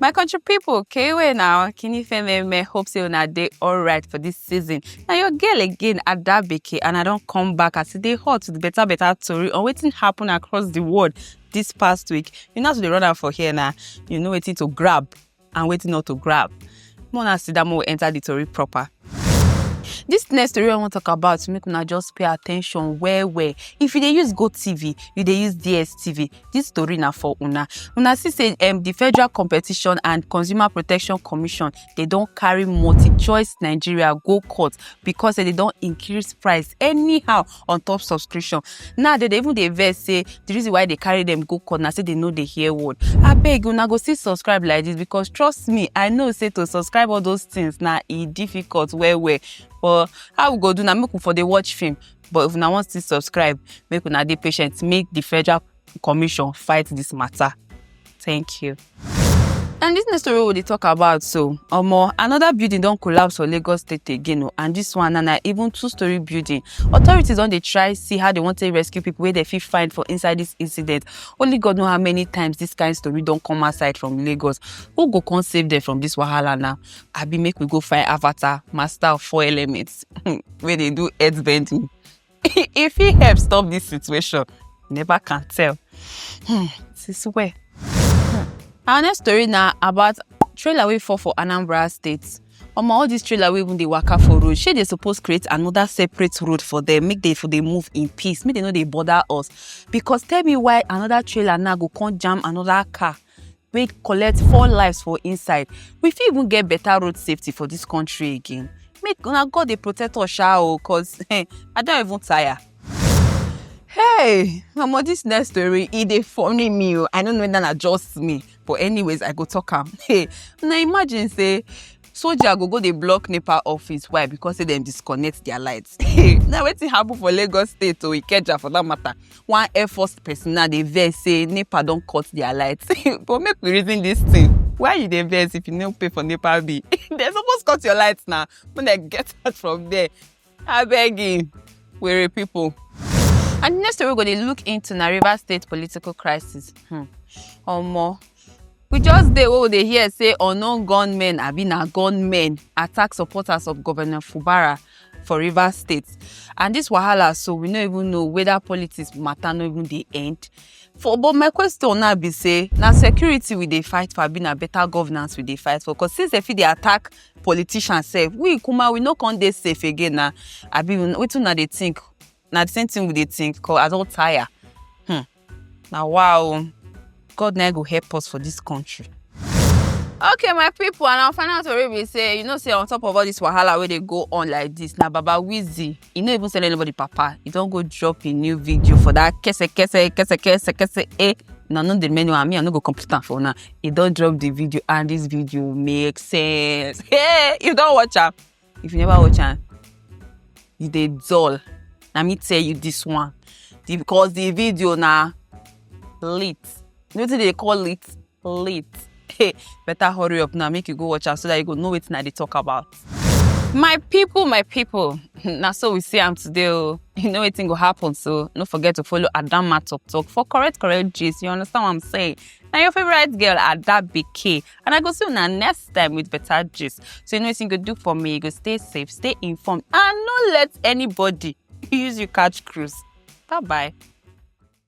my country people, kewe now kini feme me hope say una dey alright for this season Now your girl again adabeke and i don't come back as e dey hot with better better tori on wetin happen across the world this past week you know how to dey run am for here now. you know wetin to grab and wetin not to grab. More na sit down, more enter the tori proper. This next story I want to talk about make una just pay attention well well. If you dey use Go TV, you dey use DSTV, this story na for una. Una see say um, the Federal Competition and Consumer Protection Commission they don carry multi-choice Nigeria go court because say they don increase price anyhow on top subscription now they even dey vex say the reason why they carry them go court na say they no dey hear word abeg una go still subscribe like this because trust me i know say to subscribe all those things na e difficult well well but how we go do na make we for dey watch film but if una wan still subscribe make una dey patient make the federal commission fight this matter thank you and this next story we dey talk about so omo another building don collapse for lagos state again o oh, and this one na na even two story building authorities don dey try see how they wan take rescue people wey dem fit find for inside this incident only god know how many times this kind story don come outside from lagos who go come save them from this wahala now abi make we go find avatar master of four elements wey dey do earth bending. e fit help stop this situation never can tell hmm, since where. our next story na about trailer wey fall for anambra state omo all these trailer wey even dey waka for road shey dey suppose create another separate road for them make they for dey move in peace make they no dey bother us because tell me why another trailer now go come jam another car wey collect four lives for inside we fit even get better road safety for this country again make una god dey protect us sha o cause eh, i don even tire. hey mama this next story e dey funny me o i no know whether na just me but anyways i go talk am hey una imagine say soja go go dey block nepa office why because say dem disconnect their lights na wetin happen for lagos state o ikeja for that matter one air force personnel dey vex say nepa don cut their lights but make we reason this thing why you dey vex if you no pay for nepa bill dem suppose cut your lights na make dem get out from there abegi were people. and the next story we go dey look into na rivers state political crisis hmm. omo we just dey wey we dey hear say unknown gunmen abi na gunmen attack supporters of governor fubara for rivers state and this wahala so we no even know whether politics matter no even dey end for but my question now be say na security we dey fight for abi na better governance we dey fight for because since dem fit dey attack politician sef we kuma we no come dey safe again na abi wetin una dey think na the same thing we dey think cause i don tire hmm. na wow oh. god na go help us for this country. okay my people and our final tori be say you know say on top of all this wahala wey dey go on like this na baba wizzy e no even send anybody papa e don go drop im new video for that kese kese kese kese kese eh na no dey many one me i no go complete am for una e don drop the video and this video make sense hey you don watch am if you never watch am you dey dull na me tell you this one the, because the video na lit you know wetin dey call lit late hey better hurry up now make you go watch am so that you go know wetin i dey talk about my people my people na so we see am today o you know wetin go happen so no forget to follow adamma talk talk for correct correct gist you understand what i'm saying na your favourite girl ada bk and i go see una next time with better gist so you know wetin you go do for me you go stay safe stay informed and no let anybody use you catch cruise bye bye.